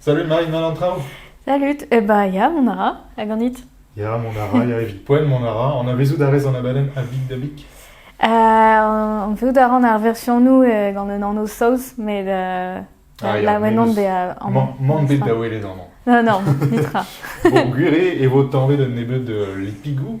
Salut Marie, mal an traoù Salut, eh bah ya, mon ara, hag ganit Ya, mon ara, ya, evit poen, mon ara, on a vezout a rez an abadenn A Big da Big Euh, on veut d'arran ar version nou euh, gant un anv saoz, met euh, Ah, ya, laouenan bez- bezañ an... Man, man bet da welet amañ. Non, non, nitra. Bon, gwir eo e vo tañvet un nebeud euh, lipigou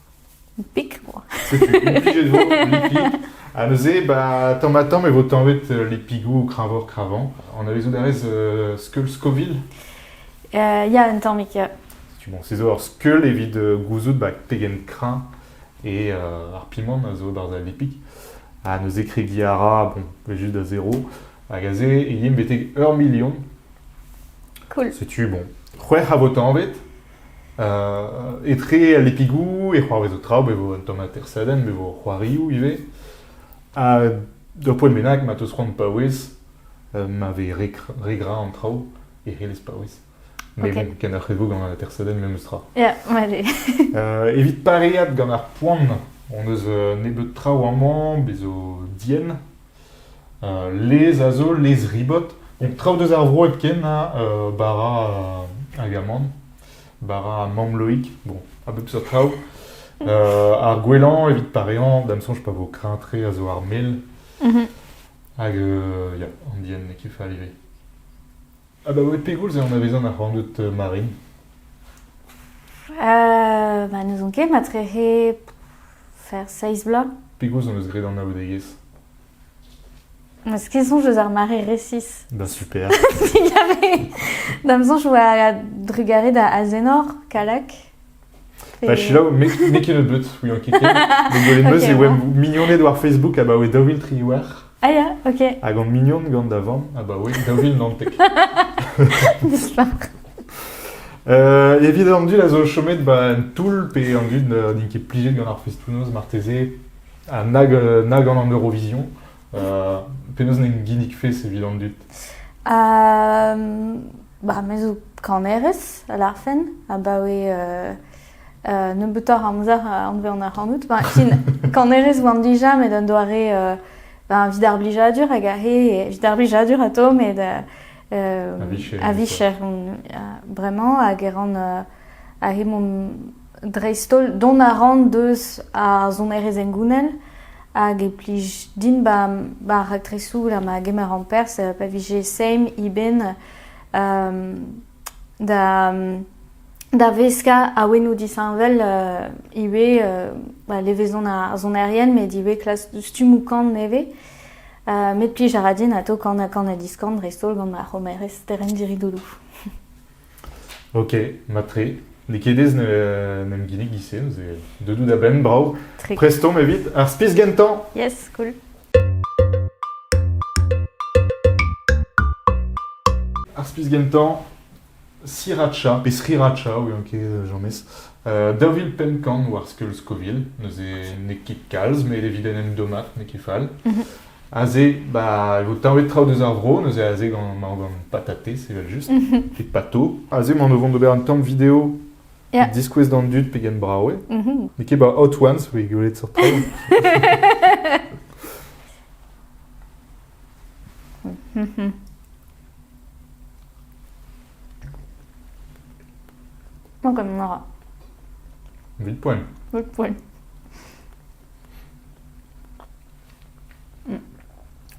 Pik oa. Setu implijet vo lipig. Ha neuze, ba, tamm-ha-tamm e vo tañvet euh, lipigoù kreñvoc'h-kreñvañ. Anavezout a rez euh, skeul Scoville? Uh, ya, un tammig, ya. Tu, bon, se zo ur skeul evit euh, gouzout ba, pegen kreñv et euh, ar pimant a zo barzh al lipig. Ha neuze kregiñ a ra, bon, juste da zéro. Hag aze, e yemp betek ur million. Cool. Setu, bon, c'hwec'h a vo tañvet. Etre al lepigoù e c'hoarvezo traoù, ma vo un tamm atersadenn, ma vo c'hoarioù ivez. Ha d'ur poent bennak ma 'teus c'hoant paouez ma vez re gra re gra an traoù e c'hellez paouez. Mais bon, kenoc'h e vo gant an atersadenn memes tra. Ya, allez. Evit pareaat gant ar poan hon eus nebeut traoù amañ, bez' zo dienn. Lez a zo lez-ribot, donc traoù deus ar vro hepken ha bara hag amann, bara ha mamm-Loig, bon, a bep seurt traoù. ar gwellañ evit pareañ, da'm soñj pa vo kreñv-tre, a zo ar mel. Hag ya, anvien ket fall ivez. Abaoe pegoulz eo anavezan ar c'hornôg marin? Euh, bah, n'ouzon ket, matre he faire seizh bloaz. Pegoulz hon eus graet anaoudegezh? Eus ket soñj eus ar mare resis. Ben super. Il y avait... Da'm soñj oa trugarez da Azenor, Kalak. Bah, selaou, me me ket neud but, ouian ket ken. Me gwelet meus Ok. e oa mignoned war Facebook abaoe daou vil tri war, Ah ya, ok. hag on mignon gant da vamm abaoe daou vil naontek. Nispa. Euh, evit an dud a zo chomet ba en toull pe an dud euh, n'int ket plijet gant ar festounoz marteze ha nag, euh, nag gant an Eurovision. Euh, Penaos n'en ginnig fes evit an dud? Euh, Ba, me zo kanerez, a larfen, abaoe nebeutoc'h amzer anvean ac'hanout. Ba, fin, kanerez oan dija met un doare evit ar blijadur hag a he, evit ar blijadur atao met a vicher, a vicher, bremañ hag e ran a he mon dreist-holl dont a ran deus ar sonerezh hengounel hag e plij din ba ba ar raktresoù gant ma gemer amperzh pa vije seim eben da da veskañ awenoù disheñvel ivez ba levezon ar sonerien met ivez klas stummoù kan nevez met plij a ra din atav kanañ kan ha diskan dreist-holl gant ma c'homerez Terren Diridoulou. Ok, mat-tre. N'eo ket aes n'em kinnig giz-se, neuze deudoù da benn, brav. Tre. Prestomp evit ar spis gentañ! Yes, cool. Ar spis gentañ, sriracha, pe sriracha, oui, ok, james. Uh, daou vil pemp-kant war skeul Scoville, neuze n'eo ket kalz, met evit en em dommat n'eo ket fall. Mhm. Aze, bah, e vo taolet traoù deus ar vro, neuze aze gant, ma gant patatez, evel-just, evit pato. Aze emaon o vont d'ober un tamm video Yeah. diskouez d'an dud pegen brav eo. Mhm. N'eo ket ba Hot Ones, oui, gwelet sur traoù. Bon, comme on aura. Vite poil. Votre poil.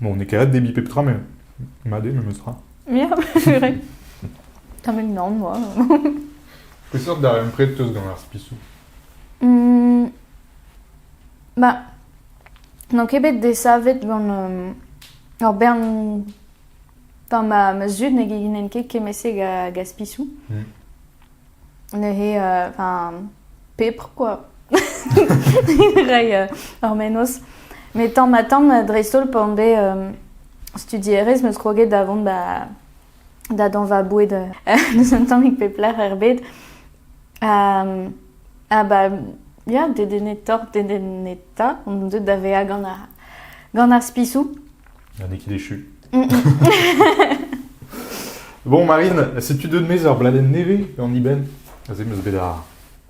Bon, n'eo ket ret debriñ pep tra, mais mat eo memes tra. Ya, vrai. T'as même nan, moi. Peseurt darempred teus gant ar spisoù? Mm, Ba, n'on ket bet desavet gant euh, ur bern... Enfin, ma, ma zud ne genen ket kement-se ga, ga spisoù. Mm. neuze euh, enfin pepr quoi rei ur mennozh met tamm ha tamm dreist-holl pan vez euh, studierez 'm eus kroget da vont da da dañ va boued euh, n'eus un tammig pep lec'h er bed ha ba ya dedennetoc'h dedennetañ on deuet da vezañ gant ar gant ar spisou n'en ket déchu. bon, Marine, setu deux de mes ur bladenn nevez en Iben. Aze meus bet ar,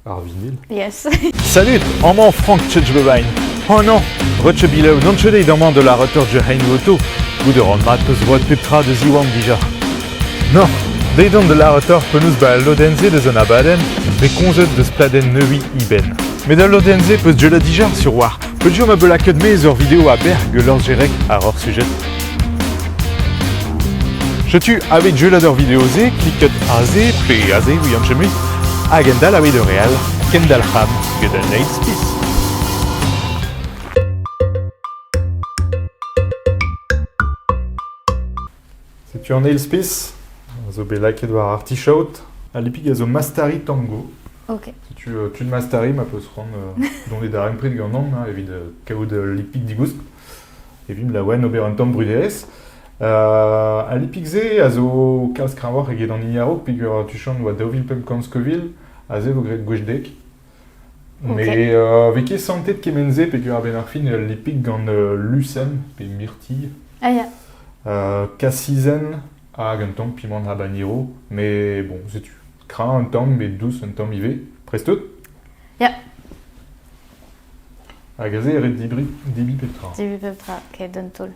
ar vinil. Yes. Salut, amañ Frank Tchechbevine. Hanañ, rechebilev non deit amañ de la retor Jerein Voto, goude ran mat peus voat pep tra de ziwan dija. No, deit on de la retor penaus ba al lodenn-se deus an abadenn, bet komzet deus pladenn neuiñ Iben. Met al lodenn-se peus deuet dija sur war Peogwir ma vo lakaet maez ur video a-berr gant Lors Gerec àr hor sujet. Setu aveit jeulat ur video-se, klikot aze pe aze, ouian chemui, hag endal aveit ur re all, kendalc'ham get un eil spis. Setu an eil spis, a zo bet lakaet war artichaod. Al lipig a zo Mastari Tango. Ok. Setu euh, tud Mastari ma peus c'hoant euh, dont e darempred ganeomp hein, evit euh, kaout ul lipig digoust, evit laouen ober un tamm bruderezh. Uh, al lipig-se a zo kalz kreñvoc'h eget an hini a-raok peogwir tu chant oa daou vil pemp kant Scoville, aze vo graet gwech dek. Met vez ket santet kement-se peger-benn ar fin ul lipig gant lusenn pe mirtilh, kasizenn hag un tamm pimant habanero. Mais bon, setu kreñv un tamm met dous un tamm ivez. Prest-tout? Ya. Hag aze e ret dibriñ, dibiñ pep tra. Dibiñ pep tra, keit d'un taol.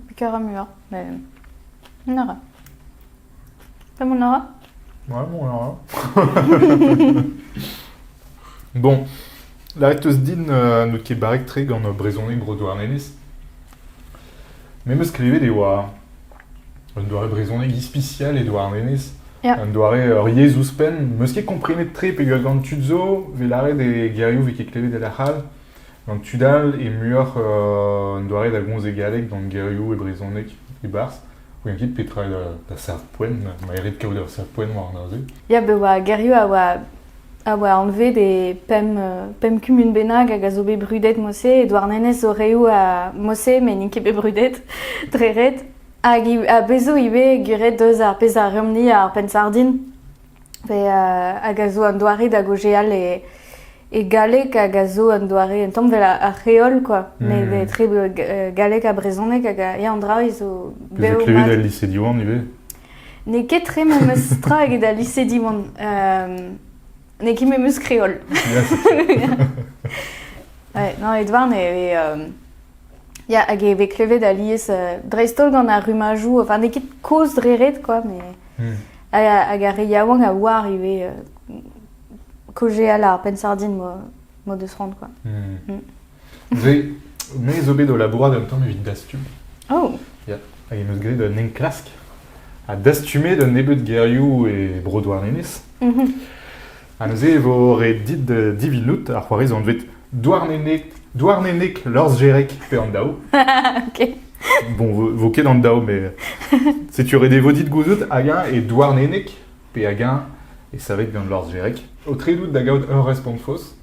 Picaramuá met mont a ra. Pas mont a ra Ouais, bon, alors là. bon, la reteus din uh, n'out ket barrek-tre gant brezhoneg Bro-Douarnenez. Me 'm eus skrivet e oa un doare brezhoneg ispisial e Douarnenez. Ya. Un doare ur yezh ouzhpenn. 'm eus ket komprenet tre pegoulz gant tud zo, 'vez lâret e gerioù 'vez ket klevet e la c'hall. Gant tud all eo muioc'h un doare da gomz e galleg gant gerioù e brezhoneg e-barzh. Goulenn ket petra eo da serv-poent, ma erit kaout ur serv-poent war neuze. Ya, bet oa gerioù a oa, a oa anvet e pemp, pemp kumun bennak hag a zo bet brudet mod-se. E Douarnenez zo reoù a mod-se, met n'int ket bet brudet dre ret. Hag a bezo ivez guret deus ar pezh a reomp-ni ar penn-sardin. hag a zo un doare da gaozeal e, e galleg hag a zo un doare un tamm vel ar c'heol quoi mm. met etre galleg ha brezhoneg hag ya an draoù zo bev klevet el lycée Diwan ivez n'eo ket tre memes tra eget al lycée Diwan euh, n'eo ket memes kreol ouais, non Edouard e euh, ya hag e vez klevet alies dreist-holl gant ar rummajoù enfin n'eo ket kozh dre ret quoi mais mm. Hag ar re yaouank a oar ivez kaozeal ar penn-sardin m'o deus c'hoant quoi. Hmm. Me zo bet o labourat un tamm evit dastume. Oh. Yeah. Hag em eus graet un enklask ha dastumet un nebeud gerioù e Bro-Douarnenez. Mm -hmm. Ha neuze e vo ret dit divinout ar c'hoarez anvet Douarneneg, Douarneneg Lorzherek pe an Daou. ok. Bon, vo ket an Daou, mais setu ret e vo dit gouzout hag-eñ e Douarneneg pe hag-eñ e savet gant Lorzherek. Aotredout da gaout ur respont faos.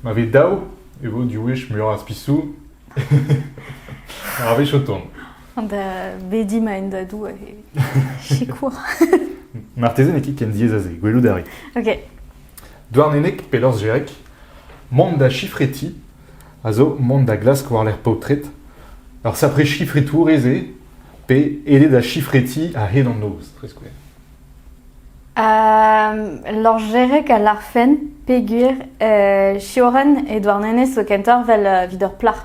Ma vez daou e vo diwech muioc'h a spisou ar wech o tont. Da bedi ma en da doue sikour. Marteze n'eo ket ken diaes a se, gwelout a ri. Ok. Douarneneg, pelorzh Jerek, mont da chifreti a zo mont da glask war-lerc'h paotred ur sapre chifritourez eo, pe ede da chifreti a-hed an noz, tre skouer. Uh, Lorjerek a larfen peger uh, Sioran e Douarnenez zo kentoc'h vel uh, vid ur plac'h.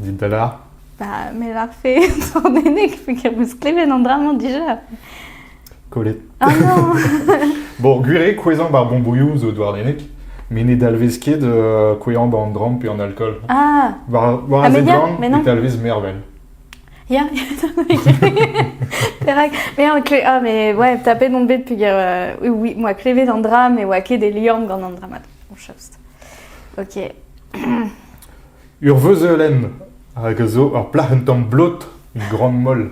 Dit da lâr. Bah, me lârfe Tordennig, peger beus klevet an dra-mañ dija. Kollet. Ah non Bon, gwir eo kouezhañ ba'r bombouilhoù zo Douarneneg, met ne dalvez ket euh, kouezhañ ba'n dramm pe an alkool. Ah War, war Ah, a mais ya, zeglan, mais ne non. dalvez mervel. Ya, Perak Mais en kle- ah, mais ouais, tapet on bet peger euh, oui, oui, moi klevet an dra, me oa ket e liamm gant an dra mat. Bon, chaps. Ok. Ur veuzeulenn hag a zo ur plac'h un tamm blot, gran-moll.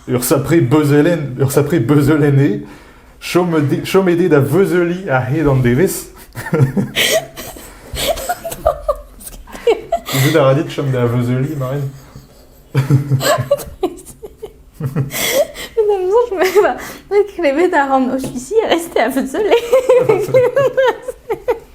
Ur sapre beuzelenn, ur sapre beuzeulenn eo. Chom eo- chom eo bet da veuzeuliñ a-hed an devezh. Gouzout a ra dit chom da veuzeuliñ, Marine Una façon, je me bah, je me crevais d'arrendre officier et rester à Veuzele.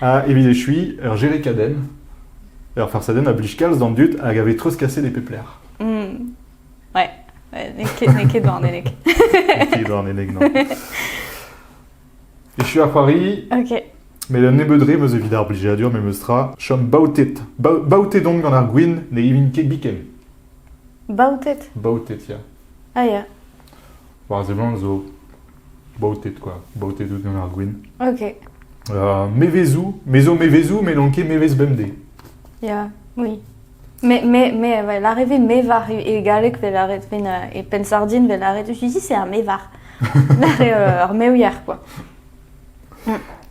Ha evit echuiñ, ur jerikadenn, ur farsadenn a blij kalz d'an dud hag a vez treuzkaset e pep lec'h. Mm. Ouais, ouais n'eo ket, n'eo ket Douarneneg. N'eo ket Douarneneg, non. Echu ar c'hoari, Ok. met un nebeud re meus evit ar blijadur memestra. Chom baotet. Ba- baotet on gant ar gwin ne ivin ket biken. Baotet. Baotet, ya. Ah, ya. War a seblant zo baoted quoi, baoted out gant ar gwin. Ok. Euh, mevezoù, me zo mevezoù, met n'on ket mevez bemdez. Ya, oui. Mais, mais, mais ouais, l'arrivée mévar e galleg vel aret ven e pensardin vel aret je dis c'est un mévar. Ar meouier quoi.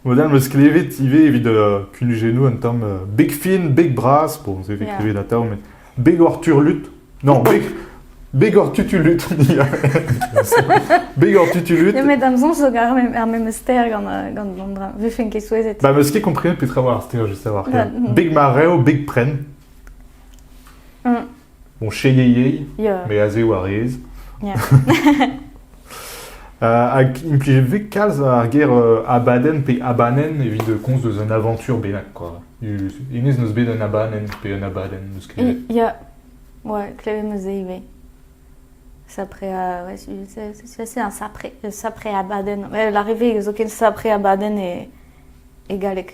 Modern meus klevet ivez evit uh, kunujennoù un tamm uh, beg fin, beg bras, bon, c'est écrivé yeah. da tav, mais Begor turlut. Non, beg... Begor tutulut. Begor tutulut. Ja, met am soñj zo gar ar memes ster gant gant an dra. Vefen ket souezhet. Ba meus ket komprennet petra war ar ster just a war. Beg ma reo, beg pren. Mm. Bon, cheiei, mais aze war rez. Yeah. Hag implijet vez kalz ar ger abadenn pe abanenn evit komz eus un avañtur bennak kwa. Hennezh n'eus bet un abadenn pe un abadenn eus klevet. Ya, ouais, klevet 'm eus se ivez. Sapre, ouais, c'est assez un sapre, sapre abadenn. Ouais, l'arrivée zoken sapre abadenn e, e galleg.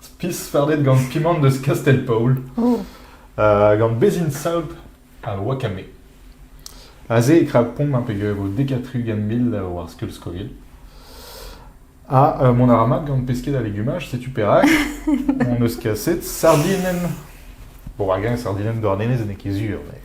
Spisfardet gant Pimant eus Kastell-Paol, gant Bezhin Saout ha Wakame. Aze e krapomp un pegego dekatrugent mil war skeul-skogell. Ha euh, mon aramag gant pesked ha legumaj, setu perak on eus kaset sardinen. Bon, hag sardinen doar nenez n'eo ket sur, mais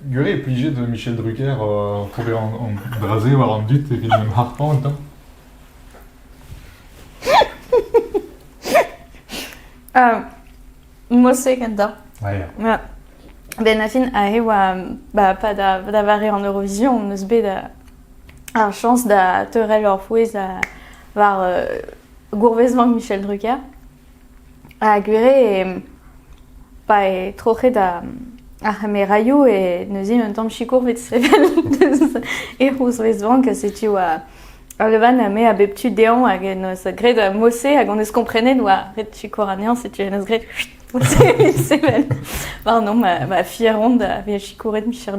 Gure e plije da Michel Drucker ober an dra-se war an dud evit ma'm harpañ gantañ. Mosseg enta. Ah, ya. Ya. Benafin aze oa ba pa da da vare an Eurovision 'm eus bet euh, ar chañs da teurel ur pouez euh, war euh, gourvezmañ Michel Drucker. Ha gwir eo, pa eo troc'het ar c'hameraioù eo neuze un tamm sikour 'vit sevel deus e c'houzvezvañ ka setu Olevan me a bep tu dezhañ hag en deus graet mod-se hag hon eus komprenet oa ret sikour anezhañ setu en deus graet sevel. Pardon, ma, ma fier on da vezañ sikouret micher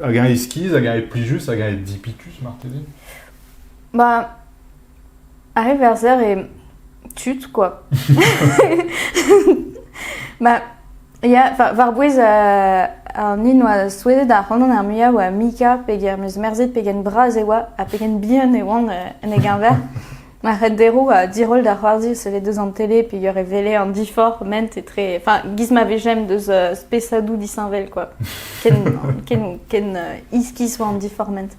Hag eñ iskis, hag eñ plijus, hag eñ dipitus marteze? Ba, ar re verzer eo tud, quoi. Ma, ya, war- war-bouez euh, an hini 'noa souezhet ac'hanon ar muiañ oa Mika, pegen meus merzhet pegen bras e oa ha pegen bihan e oan euh, en e geñver. Ma c'henderou a diroll da c'hoarzin sellet deus an tele peogwir e wele an diforc'h ment etre... Enfin, giz ma vejemp deus euh, spesadou disheñvel quoi. Ken, ken, ken euh, iskis oa an diforc'h ment.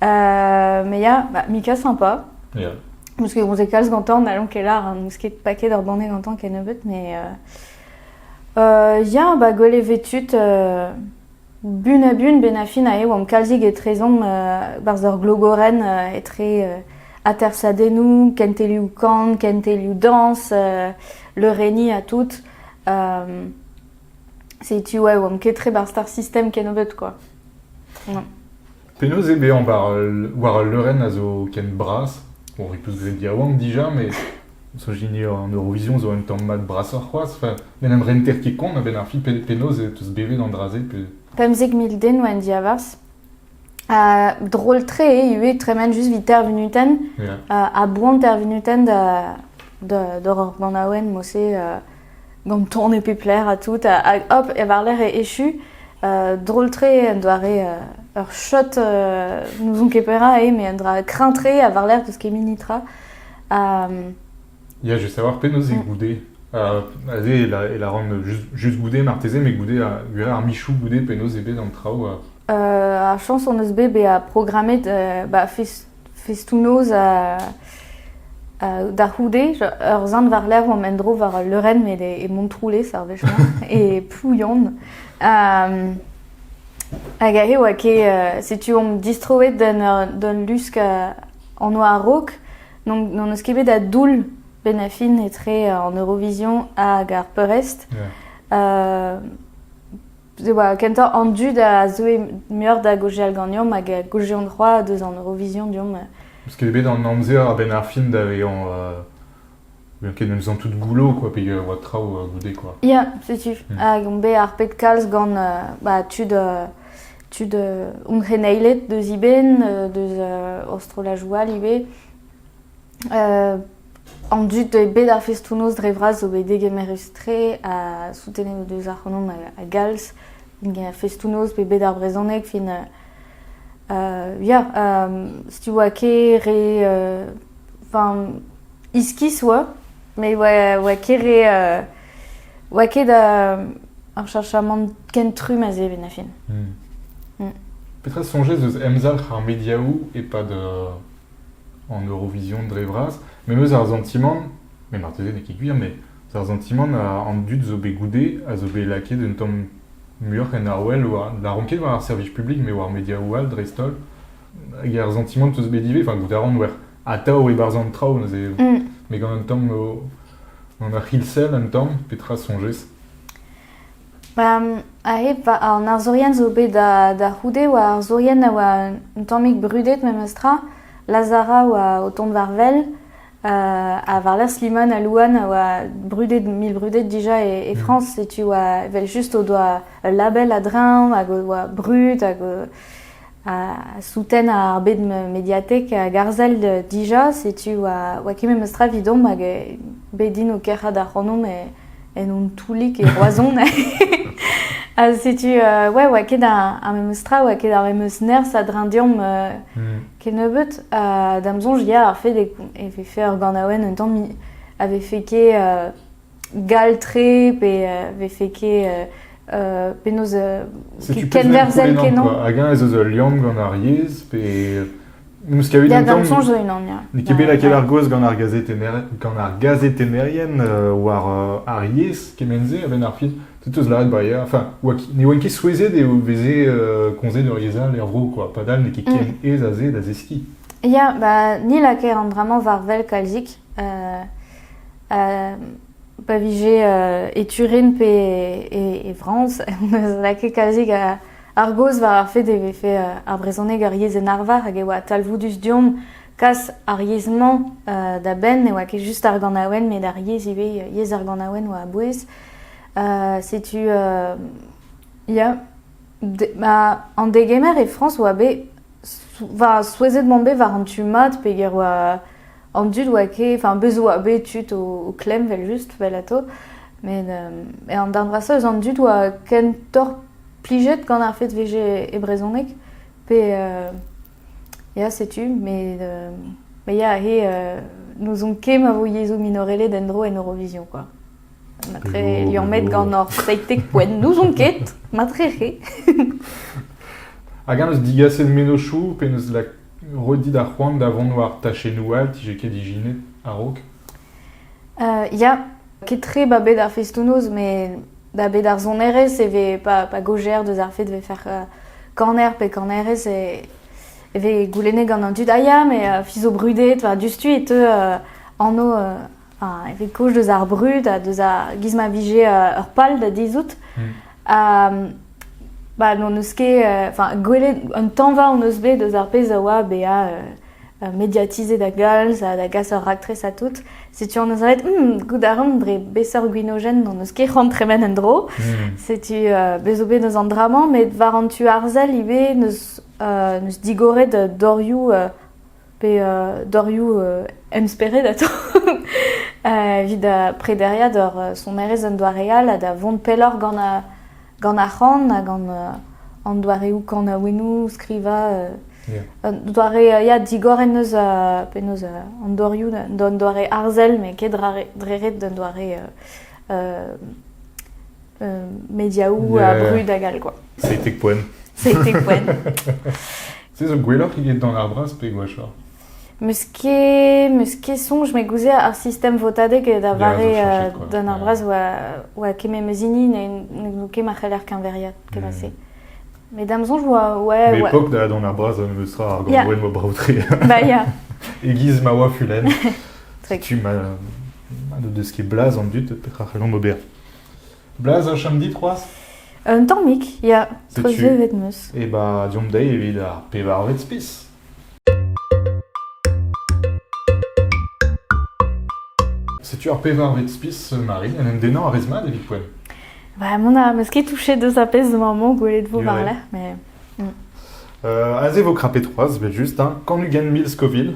Euh, mais ya, bah, Mika sympa. Yeah. Parce qu'on s'est calse gantañ, n'allons ket lar, hein, n'ouz ket paket ur banne gantañ ken nebeut, mais... Euh, euh, ya, bah, gwell e vetut euh, Bun-ha-bun benafin eo omp kalzik etrezomp 'barzh ur glogorenn etre atersadennoù, kentelioù-kan, kentelioù-dañs, leurenniñ ha tout. Setu eo omp ket tre 'barzh ar sistem kennebeut kwa. Penaos eo bezañ war ul leurenn a zo ken bras? Bon, on repous graet yaouank dija, met soñj din eo an Eurovision zo un tamm mat brasoc'h c'hoazh. Enfin, n'en em renter ket kont a-benn ar fin. Penaos e teus bevet an dra-se pe... Pemzek mil den oa en diavarzh. Ha drol-tre eo ivez tremen just evit Ter Vinuten. Yeah. Ha boan Ter Vinuten da, da, d'or ur ganaouenn, mod-se. Gant ton e pep lec'h ha tout. Hag hop, e war-lerc'h e echu. drol-tre, un doare, ur shot n'ouzon ket perak eo, mais un dra kreñv-tre ha war-lerc'h deus kemini tra. Ha... Ya, je veux savoir penaos eo goude. Uh, aze e la, e la ran just, just goude marteze, met goude, a, gwir ar michou goude, penaos eo bet an traoù? A... Uh, ar chañs hon eus bet bezañ programmet uh, ba fis festoù-noz da c'houde. Ur sant war-lerc'h omp en-dro war ul leurenn met e Montroulez ar wech-mañ, e Plouyann. Hag aze oa ket... setu omp distroet d'un lusk en oa a-raok. N'hon eus ket bet a doull benn a fin etre an Eurovision hag ar peurrest. e oa kentañ an dud a zeue muioc'h da gaozeal ganeomp hag a gaozeont c'hoazh deus an Eurovision deomp. Parce qu'elle bet an amzer a-benn ar fin da vezañ bien ket en faisant tout goulot quoi pegen oa traoù goude quoi. Ya, setu. Mm. Hag on bet harpet kalz gant bah, tud tud hon c'heneiled deus e benn, deus Aostrolajoua ivez. an dud e bed ar festoù-noz dre vras zo bet degemerus-tre ha soutenet o deus ac'hanomp a, galz a festoù-noz pe bed ar brezhoneg fin uh, ya um, ske re uh, enfin iskis oa me oa, oa ket re uh, oa ket da ar chachamant ken trum a zeven a fin hmm. hmm. Petra soñjez eus emzalc'h ar mediaoù e-pad en Eurovision dre vras, me 'meus ar santimant, met marteze n'eo ket gwir, mais ar santimant an dud zo bet goude a zo bet lakaet un tamm muioc'h en arwel war, na ran ket war ar servij publik, mais war mediaoù all dreist-holl, hag ar santimant 'peus bet ivez, enfin goût a ran wer, atav e-barzh an traoù neuze, met gant un tamm o, gant ur c'hilsell un tamm, petra soñjez? A-hed an arzourien zo bet da c'houde oa arzourien a oa un tammig brudet memestra. Lazara oa o tont war wel ha war-lerc'h Slimane ha Louane a oa brudet, mil brudet dija e Frañs. Setu oa evel-just o doa ul label a-dreñv hag o doa brud hag o... souten ar bed mediatek garzell dija, setu oa ket memes tra evidomp hag bet din o kerc'hat ac'hanomp en hon toulig e Roazhon. ha setu, ouais, oa ket ar memes tra, oa ket ar memes nerzh a-dreñv deomp hmm. kennebeut. da'm soñj, ya, ar fait e vefe ur ganaouenn un tamm avait fait ket gall-tre pe vefe ket penaos kenverzell kenan. Hag-eñ ez eus ul liamm gant ar yezh pe N'eus ket un tamm. soñj unan, ya. N'eo ket bet lakaet ar gaoz gant ar gant ar gazetennerien war ar yezh kement-se a-benn ar fin. Tout eus lâret ba ya. Enfin, ne oant ket souezhet eo veze komzet ur yezh all er vro quoi. Padal n'eo ket ken mm. aes aze da zeskiñ. Ya, ba ni lakaer an bremañ war wel kalzik. pa vije e Turin pe e, Frañs, neus lakaet kalzik ar gaoz war ar fait e vefe ar brezhoneg ur yezh en arvar hag e oa talvoudus deomp kas ar yezh-mañ da benn. Ne oa ket just ar ganaouenn, met ar yezh ivez, yezh ar ganaouenn oa a-bouez. setu ya, an degemer e Frañs oa bet, souezhet 'mont bet war an tu mat peger oa an dud oa ket... Enfin, bez' oa bet tud o klemm evel-just, 'vel atao, met an darn vrasa eus an dud oa ken torr-plijet gant ar fed 'vije e brezoneg, pe ya, setu, met ya, he n'ouzon ket ma vo yezou minoreled en-dro en Eurovision, quoi. Matre liammet gant hor seitek poent, n'ouzon ket, matre re. Hag eñ eus digaset mennozhioù pe neus Roit dit ar c'hoant da vont war tachennoù all 'dije ket ijinet a-raok. Ya, ket-tre 'ba bed ar festoù-noz met 'ba bed ar sonerezh e vez pa pa gaojer deus ar fed 'vez faire kaner pe kanerez e e vez goulennet gant an dud ah ya mais fizo brudet war diouzhtu e teu anv evit koch deus ar brud ha deus giz ma vije ur pal da dizout. Hmm. ba n'hon eus ket, enfin, gwelet un tanva hon eus bet deus ar pezh a oa bezañ mediatizet da galz ha da gas ur raktres à tout. Setu hon eus aet, hmm, goût a ran dre besseurt gwinogen n'hon eus ket c'hoant tremen en dro. Hmm. Setu uh, bezo bet eus an dra-mañ, met war an tu arzel ivez neus, uh, neus digoret dorioù uh, pe dorioù emspered atav evit prederiañ d'ur sonerezh un doare all ha da vont pelloc'h gant ar c'han ha gant an doareoù kanaouennoù, skrivañ. Un doare ya, digor en deus penaos an dorioù d'un doare arzel met ket dre ret d'un doare mediaoù a brud hag all quoi. Seitek poen. Seitek poen. Se zo gwelloc'h eget dans l'art bras pe gwashoc'h Meus ket, meus ket soñj me gouzea ar sistem votadeg da vare uh, d'un ar bras oa, oa keme meus hini ne ket ma c'heller keñveriat kement-se. Mm. Mais dam soñj oa... Ouais, L'époque ouais. da dans ar bras on me sera ar gant mo braotre. Bah ya. Egiz ma oa fulen. tu ma... ma de deske blaz an dut petra c'hellomp ober. Blaz a chom dit c'hoazh? Un tammig, ya. Treuzvevet 'm eus. E ba deomp dezhi evit ar pevarvet spis. Setu ar pevarvet spis, Marie. En em dennañ a rez mat evit poent? Bah, mont a meus ket touchet deus ar pezh zo maman gwelet vo war-lerc'h, mais... Mm. Euh, aze vo krapet c'hoazh, 'vel just, hein. Kan-ugent mil Scoville.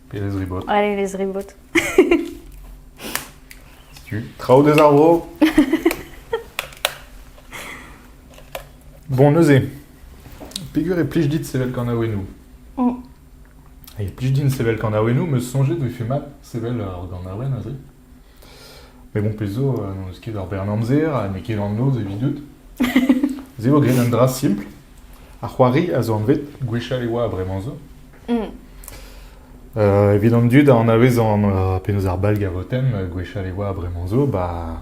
Pelez ribot. Allez, les ribot. Setu, traoù deus ar vro. bon, neuze, peger e plij dit sevel kanaouennoù mm. Et plus d'une sevel quand a me songer de fait mal, sevel en a Met bon, pezh zo, euh, n'on eus ket ur bern amzer ha n'eo ket an noz evidout. Se eo graet un dra simpl. Ar c'hoari a zo anvet, gwechall e oa bremañ zo. Mm. Euh, evit an dud a anavez an, euh, penaos ar bal gavotenn, euh, gwechall e oa bremañ zo, ba,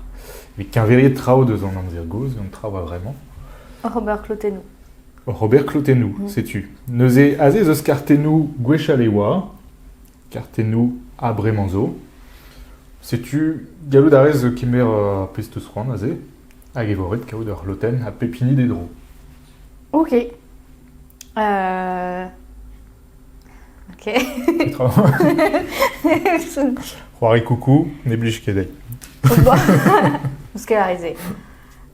evit keñveriet traoù deus an amzer gozh, an traoù a vremañ. Robert Clotenou. Robert Clotenou, Mhm. setu. Neuze, aze ez eus kartennoù gwechall e oa, Kartennoù ha bremañ zo. Setu, gallout a rez kemer ar pezh-teus-c'hoant aze, hag evoret kaout ur c'hlotenn ha pep hini d'e dro. Ok. Euh... Ok. Petra C'hoari coucou, ne blij ket dezhi. Parce que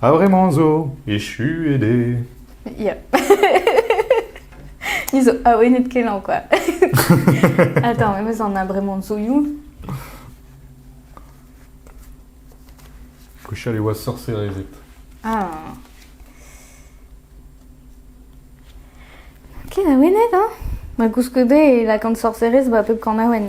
A-vremañ zo echuet eo. Ya. Ni zo awenet kenañ quoi. Attends, mais on a vraiment zoiou. Kochal e oa sorserezed. Ah. Ken awenet, hein? Ma koulskoude, lakan sorserez ba pep kanaouenn.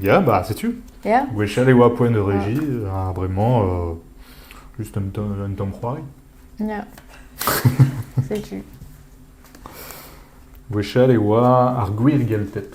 Ya, bah setu. Ya. Gwechall e oa poent de régie, ha bremañ, euh, juste un, temps- un temps c'hoari. Ya. Setu. Gwechall e oa ar gwir gelted.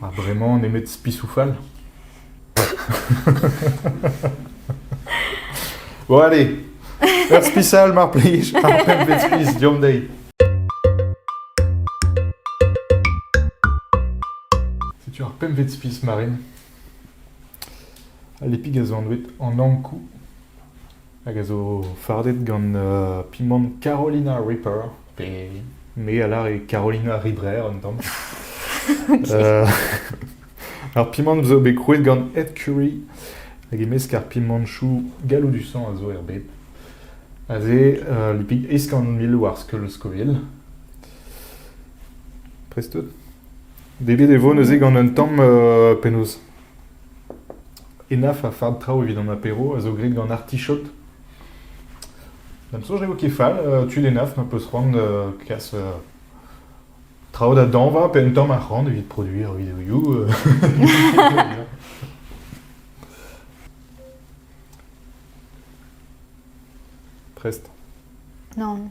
Ha bremañ nemet spisoù fall ? Bon allez, ur spisal mar plij, ar pempvet spis deomp dezhi. Setu ar pempvet spis Marine. Al epig a zo anvet an ankoù. hag a zo fardet gant pimant Carolina Ripper, pe me a lar e Carolina Ribrer un tamm. ar pimant zo bet krouet gant Ed Curry, hag e-mesk ar pimantoù galloudusañ a zo er bed. Aze, uh, lipig eskant-mil war skeul Scoville. Prest out? Debet e vo neuze gant un tamm uh, penaos Enaf a fard traoù evit an apero a zo graet gant artichod. D'am soñj ne vo ket fall uh, tud Enaf ma peus c'hoant da kas uh, traoù da dañva pe un tamm arc'hant evit produiñ ar videoioù. uh. Prest. Non.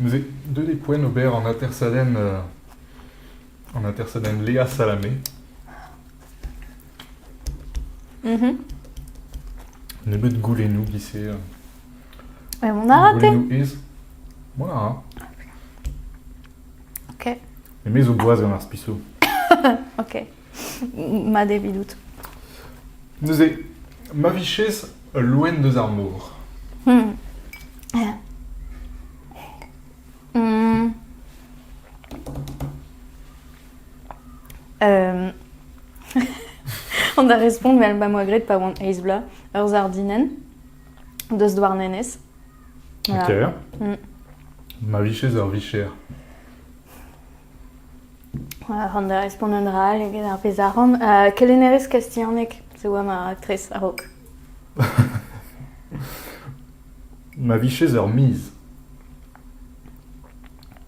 Neuze, deuet e poent ober an atersadenn, an atersadenn Léa Salamé. Nebeut goulennoù giz-se. On a raté. Goulennoù aes. Voilà. Ok. Et mes au bois gant ar spiso. ok. Ma devidout. Neuze, ma viches loen deus ar mor. Hmm. Hmm. An da respont vel ba moa graet pa oan eiz bloaz, eur zardinen, deus Douarnenez. Voilà. Ok. Mm. Ma vicher ur vicher. Voilà, an da respont un dra all eget ar pezh arc'hant. Uh, kelennerez kastilhaneg, se oa ma aktres a-raok. Ma vicher ur miz.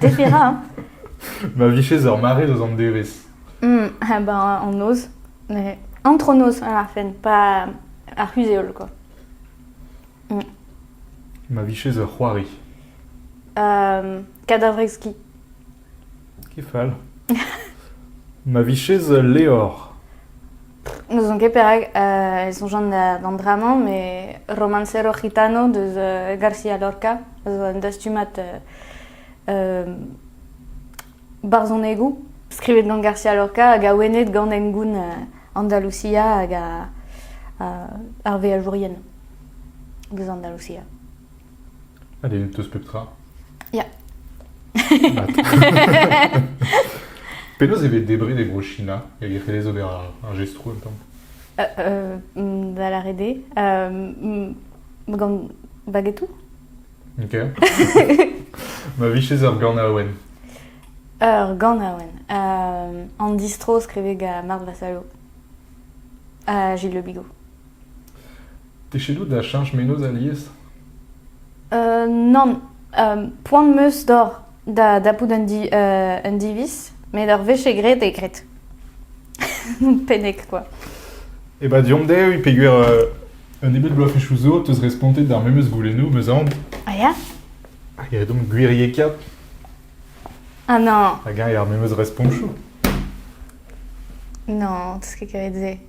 Debera. Ma vijes ur mare deus an devezh. Mm, ha ben an noz. Mais antronoz à la fin, pas ar c'huzh-heol quoi. Mm. Ma viches ur c'hoari. Euh, Kadavrekski. Kefal. Ma viches levr. N'ouzon ket perak e soñjan d'an dra-mañ, met Romancero Gitano deus García Lorca a zo un dastumad barzhonegoù skrivet gant García Lorca hag awenet gant hengoun Andalusia hag ar veajourien eus Andalusia. Allez, t'as pep tra. Ya. Penaos e vez debriñ des gros chinas Il y a des ober un gestro un peu euh, euh, mm, Da la rede. Euh, gant bagetou. Ok. Ma viches ar gant awen. Ur gant awen. Euh, an distro skriveg a Mart Vasalo. Ha Gilles Le Bigot. Techedoù da cheñch menoz alies ? Nann, poan 'm eus doc'h da dapout un diviz, met ur wech eo graet eo graet. Penneg kwa. E ba deomp dezhi peogwir un nebeud bloavezhioù zo 'teus respontet d'ar memes goulennoù 'm eus aon. A ya? Hag aet omp gwiriekaat. Ah non. Hag eñ ar memes respontoù. Non, 'teus ket kavet se.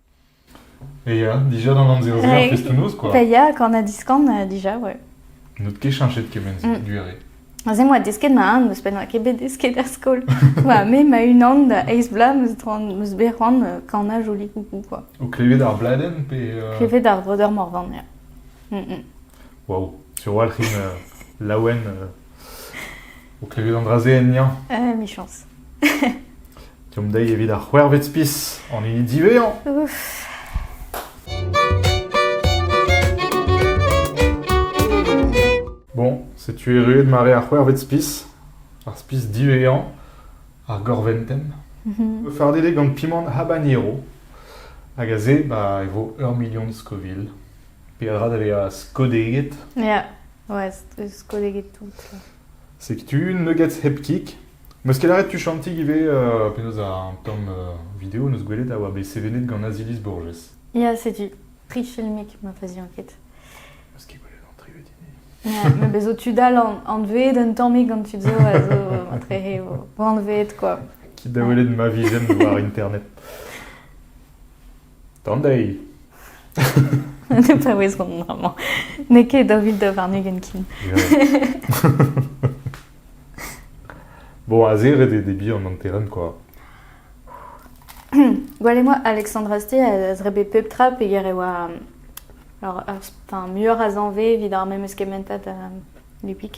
E ya, dija d'an amzer-se, ar festoù-noz, quoi. Pa ya, quand on a diskan, euh, dija, ouais. N'out ket chanchet kement-se, mm. du arrêt. Aze moa desket ma an, meus pennoa ket bet desket er skol. Oa me ma unan da eiz bla meus droan, meus bet c'hoant euh, kana joli coucou, quoi. O klevet ar bladen, pe... Euh... Klevet ar vreudeur morvan, ya. Mm -mm. Wow, sur walc'hin euh, laouen euh, O klevet an dra-se ennañ Emichañs. Deomp dezhi evit ar c'hwec'hvet spis an hini diwezhañ. Ouf. Bon, setu erruet mare ar c'hwec'hvet spis, ar spis diwezhañ, ar gorventenn. Mhm. Fardet eo gant pimant habanero, hag aze ba, e vo ur milion Scoville. Peadra da vezañ skodeget. Ya. Ouais, eus kolleged tout, là. Setu, ne get hep kik. Meus ket aret tu chantig ivez, euh, penaos un tamm euh, video neus gwelet a oa bet sevenet gant Azilis Borges. Ya, setu. Tri filmik ma fazi enket. Meus ket gwelet an tri vedini. Ya, me bezo tu dal an- anveet un tammig gant tud zo a zo matre he o o anveet, quoi. Quitte da welet ma vision war internet. D'an deiz! Ne paouezomp amañ. N'eo ket daou vil daou warn-ugent ken. Bon, azeret eo d'e bihan an terren, quoi. Gwalez-moi, Alexandre Astier a zre bet pep tra peger e oa alors, ar- enfin, muioc'h a zañve evit ar memes kementad a Lupik.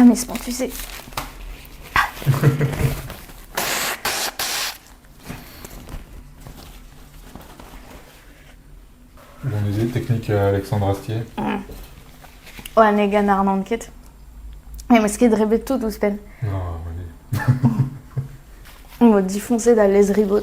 Ah, mais spontusé Bon musée technique euh, Alexandre Astier. Mm. Ouais, ne gan arnant ket. Ne meus ket drebet tout ouzhpenn. Ah, oui. Mo difoncé da lez ribot.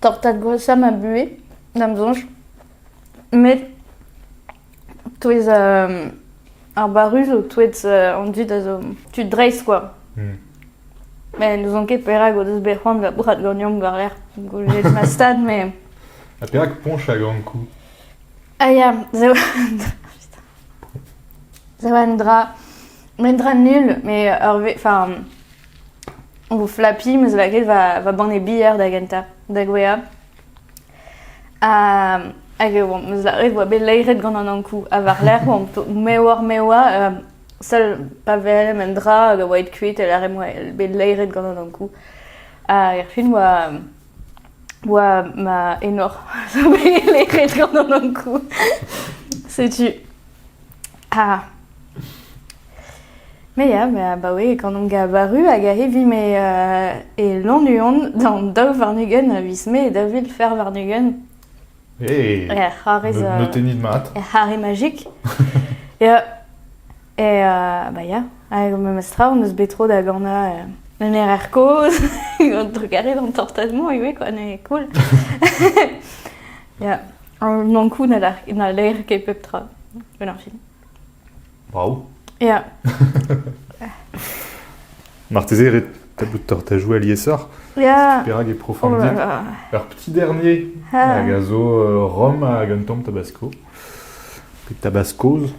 tortad gwashañ ma buhez, da'm soñj. Met touez ar barru zo touet an dud a zo tud dreist kwa. Met n'ouzon ket perak o deus bet c'hoant da brad ganeomp war-lerc'h gwelet ma stad, mais... Ha perak poñch hag ankou? Ah ya, se oa un dra... Un dra nul, mais ur... Enfin... O flapiñ 'm eus lakaet va banne bier da gentañ, da gouezhañ. Hag e oan 'm eus lâret e oa bet laeret gant an Ankou. Ha war-lerc'h oamp mewah-mewah, sell pa welem un dra hag a oa aet kuit, e lârem oa bet laeret gant an Ankou. Hag erfin oa ma enor zo bet laeret gant an Ankou. Setu. Ha Me ya, me abaoe gant on gabaru hag a-hevi me e Lannuon d'an daou varn-ugent a viz Mae da vil fer varn-ugent. Eh! Ya, c'hoarez euh, Notennit mat. er c'hare magique. Ya, et euh, bah ya, hag memes tra, on eus bet tro da ganañ euh, un RR kozh, un trugarez d'an tortadement ivez, quoi, ne cool. ya, an ankou na l'air- na l'air ket pep tra, un ar fin. Brav. Ya. Marteze ret bout tortajou aliesoc'h. Ya. Perak e profondir. Oh Ur petit dernier Ah. hag a zo euh, Rom hag un tamm tabasco. Pe tabascoz.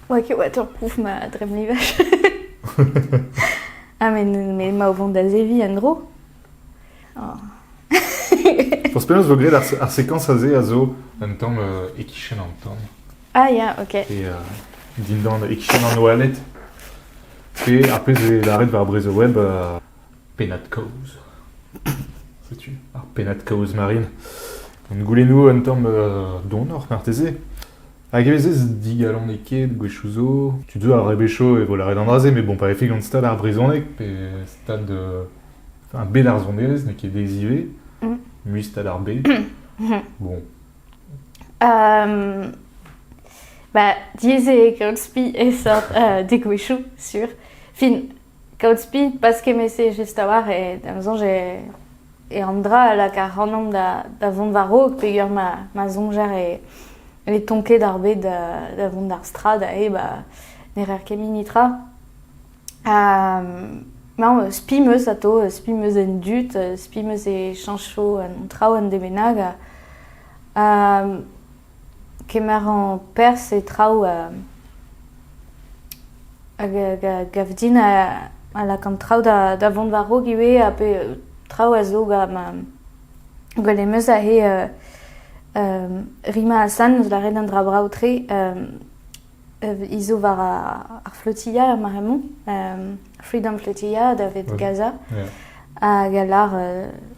Ok, ouais, tu recouvres ma dremlivage. ah, mais, mais ma au vent d'Azevi, Andro Forzh penaos 'vo graet ar sekañs aze a zo un tamm e-kichen an tan. Ah ya, ok. Et euh, dindan e-kichen an oaled. Pe ar pezh 'vez lâret war Brezhoweb, euh, pennad-kaoz. Setu ar pennad-kaoz marine. Gant goulennoù un tamm euh, donoc'h marteze. Hag e vezez digalonekaet gwechoù zo. Tud zo a rebechot e vo lâret an dra-se, mais bon, pa vefe gant stad ar brezhoneg, pe stad euh, bet ar sonerezh n'eo ket aes ivez, mustad ar bed. bon. Um, ba, diaes eo kaout spi e seurt uh, degouezhioù, sur. Fin, kaout spi, pas kemese just a-walc'h, e da soñj e, e an dra a lak ac'hanomp da, da vont war-raok peger ma, ma soñjer e, e tonket ar bed da, da vont d'ar strad, ae ba, ne rer ket mini tra. Mañ spi 'm eus atav, spi 'm eus en dud, spi 'm eus e chañcho an traoù en dud bennak. Kemerañ perzh e traoù a gav din a lakaan traoù da vont war-raok ivez ha pe traoù a zo gant ma gwelem eus aze rimañ asan eus lâret an dra brav-tre. He zo war ar flotilha er mare-mañ, Freedom Flotilha da ved Gaza. Hag a lar,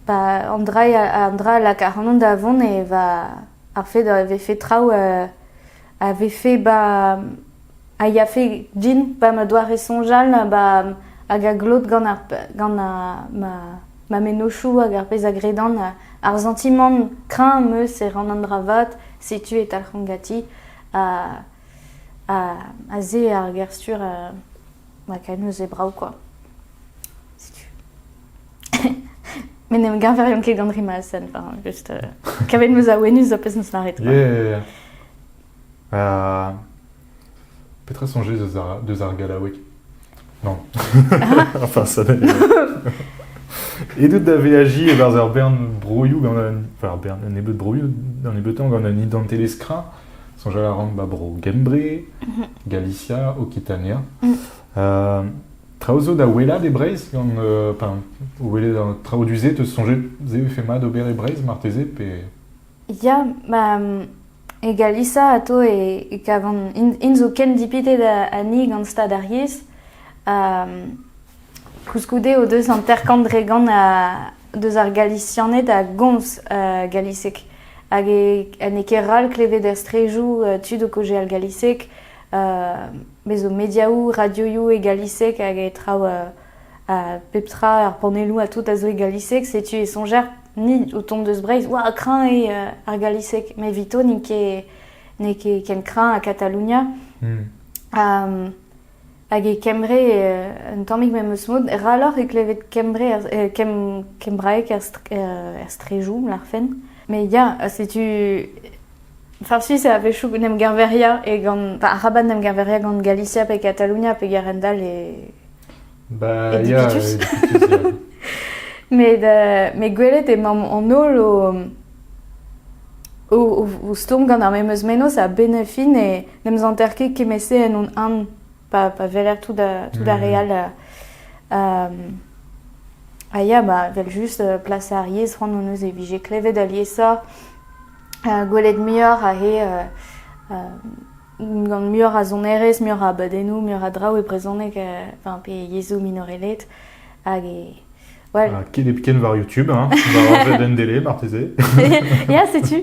ba an dra an dra a lak ac'hanon da vont e va ar fed a vefe traoù a vefe ba a yafe din pa ma doare soñjal ba hag a glot gant ar gant ma mennozhioù hag ar pezh a gredan ar santimant kreñv 'm eus e ran an dra vat setu e talc'han ganti. ha se ar ger-stur ma Canoes e brav quoi. Setu. Met ne geñveriomp ket gant rima a sen, enfin, juste... Euh, kavet meus a wenus zo pezh neus lâret quoi. Yeah, yeah, yeah. Petra soñjez deus ar, deus ar gallaoueg Non. enfin, ça Edeut da veaji e-barzh ur bern broioù gant un... Enfin, ur bern, un nebeud broioù un nebeutan gant un identitelezh kra. Soñjal a ran ba bro Gembre, mhm. Galicia, Okitania. Mm. Euh, traoù zo da welat e Breizh, gant... Euh, enfin, welet traoù du te soñjet, e fait mat ober e Breizh, marteze, pe... Ya, ma e Galisa atao e kavan int zo ken dipitet ani gant stad ar yez ha koulskoude o deus hanter-kant dre gant deus ar Galisianed a gomz galiseg hag n'eo ket ral klevet er strejou tud o kaozeal galiseg. Bez' zo mediaou, radioiou e galiseg hag e traou pep tra, ar panellou ha tout a zo e galiseg, setu e soñjer ni o tont deus Breizh, oa kreñv eo ar galiseg, met evito n'int ket n'eo ket ken kreñv ha Katalonia. Hag e Kembre, un tammig memes mod, raloc'h eo klevet Kembre, kembraeg er strejoù, larfen. Mais ya, setu... Farsi, c'est a-wechoù n'em geñveria, e gant... Araban n'em geñveria gant Galicia pe Katalonia pe gerent all e... Bah, ya, Met, euh, met gwelet emaomp an holl o, o, o, stourm gant ar memeus menoz a benefin e n'em zanter ket kemese en hon an pa, pa verer tout, da, tout ar re all. Euh, ha ya, ba, vel just euh, plas ar yez c'hoant hon eus e vije klevet aliesa uh, gwelet muioc'h a he uh, uh, gant muioc'h a sonerezh, muioc'h a abadennoù, muioc'h a draoù e brezhoneg, enfin pe yezhoù minoreled. Hag e... Voilà. Ah, ken war YouTube, hein, war RVDN Délé, marteze. Ya, setu.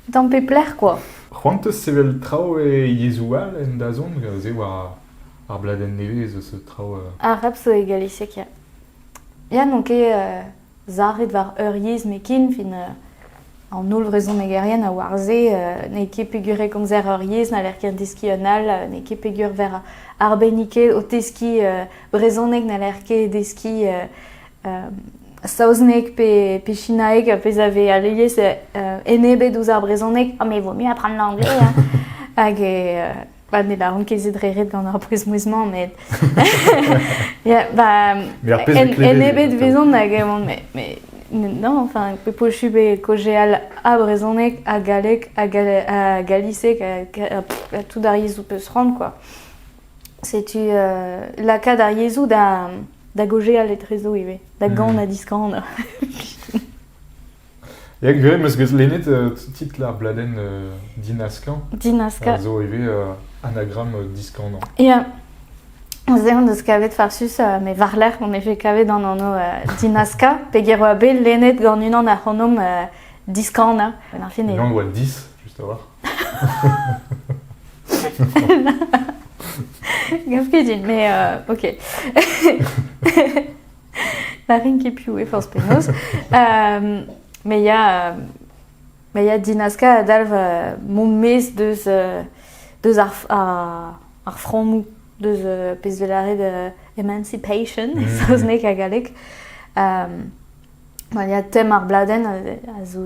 D'am pe plec'h, quoi. C'hoant eus sevel traoù e yezhoù all en dazont, se war ar bladenn nevez, ce traoù... Euh... Arab so e galisiek, ya. Ya, n'on ket... Euh, Sarit war ur yezh nekin, fin an holl vrezhonegerien a oar se n'eo ket peogwir e komzer ur yezh n'haller ket deskiñ un all, n'eo ket peogwir ver arbenniked o teskiñ brezhoneg n'haller ket deskiñ saozneg pe chinaeg, pezh a vez alies enebet ouzh ar brezhoneg, ah me vo mieux apprendre l'anglais hein hag e Bah, ne baran ket se dre ret gant ar pouez-mouezh-mañ, met... yeah, bah, en, ebet vezan hag eman, mais, mais non, enfin, pochu be kojeal a brezhonek, a galleg, a, a galisek, a, a, tout ar yezhoù peus rand, quoi. Setu euh, lakaat ar yezhoù da, da gojeal etrezo ivez, da gan hmm. ha diskan. Ya gure, 'meus bet lennet euh, titl ar bladenn euh, Dinaska. Dinaska. A zo ivez euh, anagramm euh, diskanañ. Ya. Se hon eus kavet farsus, euh, met war-lerc'h on efe kavet an anv euh, Dinaska, pegen oa bet lennet gant unan ac'hanomp euh, diskanañ. En fin, Unan oa 10, juste a voir. Gaf ket din, mais euh, ok. na rin ket piv eo forzh penaos. me ya ma ya dinaska a dalv mon maez deus deus ar ar frammoù deus pezh vez lâret emancipation e mm. saozneg ha galleg. ma ya tem ar bladenn a zo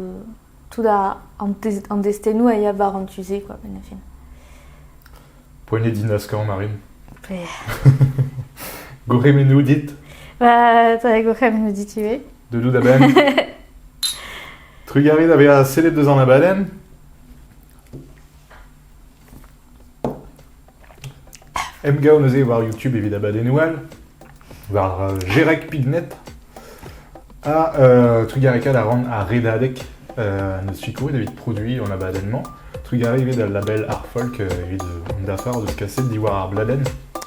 tout an destennoù a ya war an tu-se, quoi, en fin. Poagnet din askañ, Marine. Gourc'hemennoù dit Bah, t'as gourc'hemennoù dit ivez. De lout a-benn Trugarit a bezañ sellet deus an abadenn Emgav neuze war YouTube evit abadennoù all, war euh, Gerek Pignet. Ha euh, Trugareka da rendre à Redadek. Euh, ne suis couru evit produit en abadennement. Trugaré evit al label Art Folk euh, evit an dafar deus kaset diwar ar bladenn.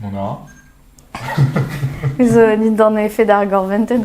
Mona zo dindan efed ar gorvented.